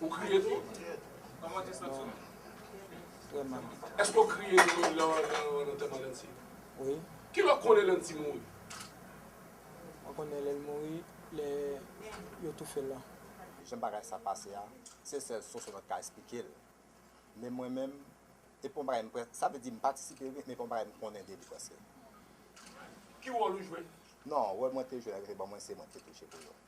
Ou kriye tou? Mwen jis nan timoun. Vreman. Eske ou kriye tou lè ou al antèman Landy? Wi. Ki lè ou konnen Landy mouri? Mwen konnen lè l mouri, lè yo toufe l lan. Jan bagay sa pase a, se sèl Sosonòt ka esplike l. Men mwen menm, e pou yon bagay m prèske, sa vle di m patisipe wi, men pou yon bagay m konnen de li prèske. Ki wòl ou jwe? Non, wòl mwen te jwe lè yo te ban mwen se mwen ki te touche pou yo.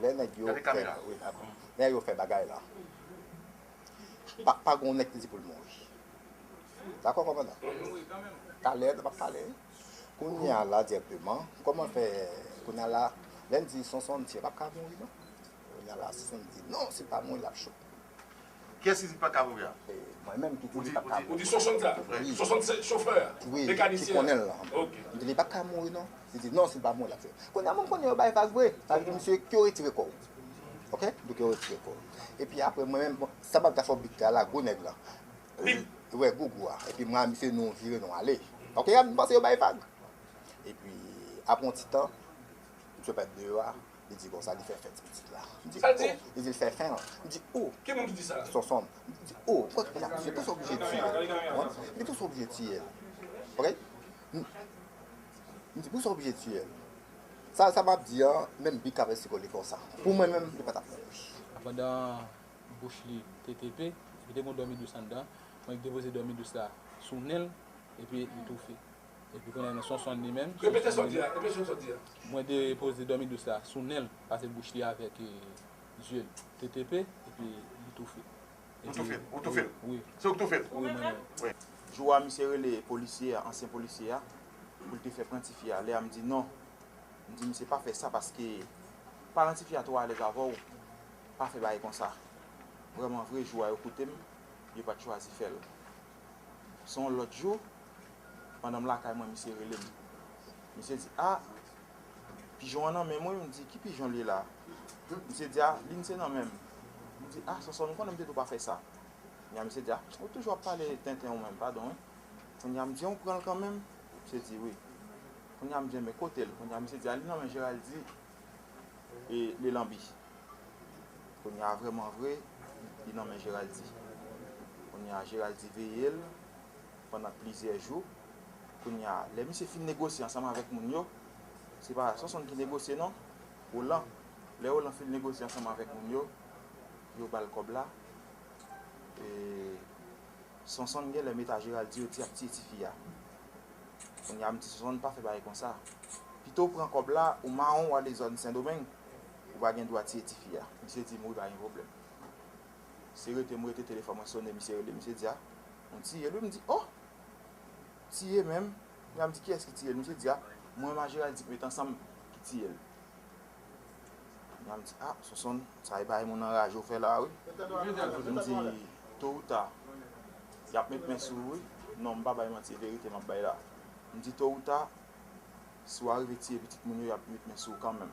Lè nèg yo fè bagay la, pa gen yon nèg ki di pou l mouri. Dakò kòmandan? Talè nou ap pale. Kounye a la dirèkteman, kòman fè kounye a la, lè n di Sonson m di yo pa p ka mouri non. Kounye a la Sonson di non si l pa mouri l ap cho. Kiyès ki di pa ka mouri a? Mwen menm ki di li pa ka mouri. Ou di Sonson sa? Wi. Sonson se chofè a? Wi. Mekanisyen an? Ki konnen l lan. Ok. M di li pa ka mouri non. Li di non si l pa mouri l ap fè. Kounya moun konnen yo bay vag vre. Sa vle di msye ke w retire kò w. Ok? Li ke w retire kò w. Epi apre mwen menm, bon, sa m ap di a fò big ta la, gwo nèg lan. Big? Wè, gougou a. Epi mwen ak msye nou vire nou ale. Ok? M panse yo bay vag. Epi apre yon ti tan, msye parèt deyò a. Li di konsa, li fè fen ti pitit la. M di, O! Li di l fè fen l. M di, O! Ki moun ki di sa? Sonson. M di, O! Pou sa l di sa? Li te sou oblije tiye l. Li te sou oblije tiye l. Ok? M di, pou sa l oblije tiye l? Sa m ap di an, menm bik avè siko li konsa. Pou mwen menm, li pa t ap fè bouch. Pandan bouch li te tepe, li te gen yon dòmi dous anndan, mwen depoze dòmi dous la sou nen l, epi li toufe. Epi kounya nan Sonson li menm. Repete sa w di a, repete sa w di a. Mwen te poze dòmi dous la sou nen l, pase bouch li avèk zye l. TTP, epi li toufe. Ou toufe l? Ou toufe l? Wi. Se ou ki toufe l? Wi, mwen menm. Jou a misye rele polisye a, ansyen polisye a, pou l te fè pran tifi a. Lè a m di non. M di misye pa fè sa paske paran tifi a twò alèz avè w. Pa fè bagay konsa. Vrèmanvre, jou a yo koute m, yo pa t chwazi fè l. Se yon lòt jou, pandan m lakay mwen misye rele m. Misye di, a, pijon an nan men m wi. M di, ki pijon l ye la? Misye di, a, li n se nan men m. M di, a, Sòsòl, m konnen m te di w pa fè sa. Kounya misye di, a, ou toujou ap pale tenten ou menm, padon wi. Kounya m di, an ou pran l kanmenm? Misye di, wi. Kounya m di, enben kote l? Kounya misye di, a, li nan men Jeraldi. e le lanbi kounye a vreman vre li nan men Geraldi kounye a Geraldi veye l pandan plizyè jou kounye a lè misye fin negosye ansanm avèk moun yo se pa Sonson ki negosye non Roland lè Roland fin negosye ansanm avèk moun yo yo ba l kòb la e. Sonsonn genlè met a Gerald di yo di ap tiye tifi a kounya m di Sonsonn pa fè bagay konsa pito w pran kòb la ou mawon w ale zòn sendomeng ou pa gen dwa tiye tifi a misye di m wi pa gen pwoblèm se rete m rete telefòn mwen sone misye rele misye di a ou tiye l wi m di oh tiye menm kounya m di kiyès ki tiye l misye di a mwen m a Gerald di k met ansanm ki tiye l. Yal di ah sonson sa e bagay moun anraje ou fè la wi Alfred m di to ou ta yap met men sou ou wi non m pa bay manti e verite map bay la m di to ou ta si w arive tiye pitit moun yo yap met men sou ou kanmenm.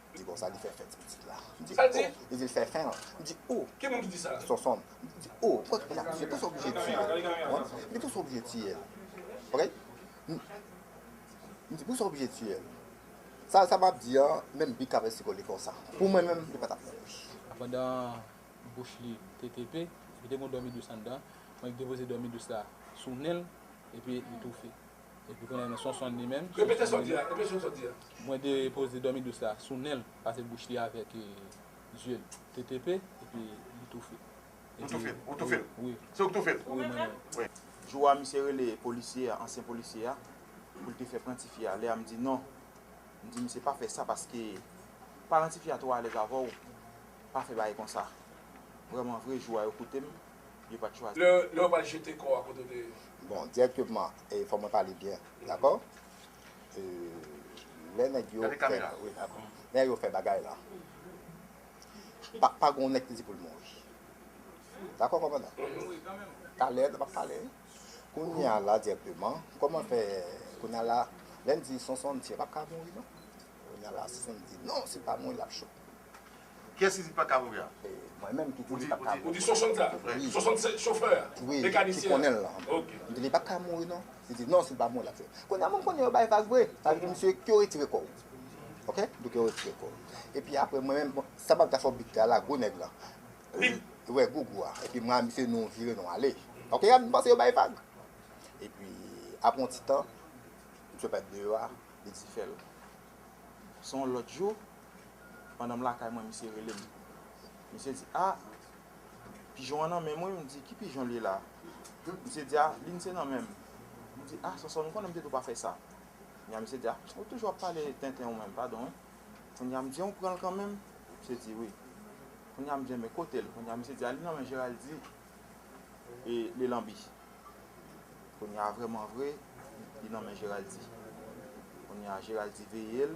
M di bon sa li fè fè ti pitit la. M di oh li di l fè fè l. M di oh Sonson m di oh pou sa pou sa w oblije tiye l. M di pou sa w oblije tiye l ok. M di pou sa w oblije tiye l. Sa sa m ap di an menm Bic ak Vèsiko li konsa. Pou mwen menm li pa t ap mouri. Pandan bouch li te tepe epi te gen yon dòmi dous anndan mwen depoze dòmi dous la sou nen l epi li toufe. Epi kounya nan Sonson li menm. Repete sa w di a, repete sa w di a. Mwen de poze dòmi dous la sou nen l pase bouch li avèk zye l te tepe epi li toufe. Ou toufe l? Ou toufe l? Wi. Se ou k toufe l? Wi mwen menm. Jou a misye rele polisye a, ansyen polisye a, pou l te fè pran tifi a. Lè a m di non. M di misye pa fè sa paske paran tifi a twò alèz avè w. Pa fè bagay konsa. Vrèmanvre jou a yo koute m. yo pat chwazi. Lè yo pral jete kò a kote w te ye. Bon direkteman e fò mwen pale byen dakò e lè nèg yo fè lè yo fè bagay la pa gen yon nèg ki di pou l mouri dakò kòmandan talè nou pap pale kounye a la direkteman kòman fè kounye a la lè n di sonson m di yo pap ka mouri non kounye a la si sonson di non si l pa mouri l ap cho Kiyès ki di pa ka mouri a? Mwen menm ki di li pa ka mouri. Ou di Sonson sa? Wi. Sonson se chofè a? Wi. Mekanisyen an? Ki konnen l lan. Ok. M di li pa ka mouri non. Li di non si l pa mouri l ap fè. Kounye a mwen konnen yo bay vag vre. Sa vle di msye ke w retire kò w. Ok? Li ke w retire kò w. Epi apre mwen menm, bon, sa m ap ta fè w big ta la, gwo nèg lan. Big? Wi, gwo gwo a. Epi mwen ak msye nou vire nou ale. Ok? M panse yo bay vag. Epi apre yon ti tan, msye pa t deyò a, li di fè l. Se yon lòt jou. pandan m lakay mwen misye rele m. Misye di a, pijon an nan menm wi, m di ki pijon l ye la? Misye di a, li n se nan menm. M di a, Sonsonn ou konnen m te di w pa fè sa. Kounya misye di a, ou toujou ap pale tenten ou menm, padon wi. Kounya m di an ou pran l kanmenm? Misye di wi. Kounya m di enben kote l? Kounya misye di a, li nan men Jeraldi e li lanbi. Kounya vreman vre, li nan men Jeraldi. Kounya Jeraldi veye l.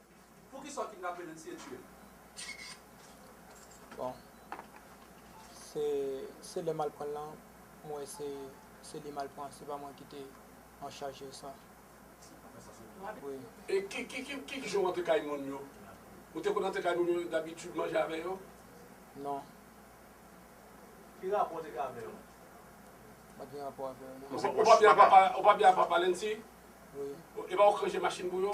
Poukisa w kidnape l eseye tiye l? Bon se lè m al pran l lan m wè se li m al pran se pa mwen ki te an chaj de sa. E ki jan w antre kay moun yo? Ou te konn antre kay moun yo dabitid manje avè yo? Non. Ki rapò w te gen avè yo? M pa t gen rapò avè yo non. Ou pa byen avè papa Lenty? Wi. Epa w k ranje machin pou yo?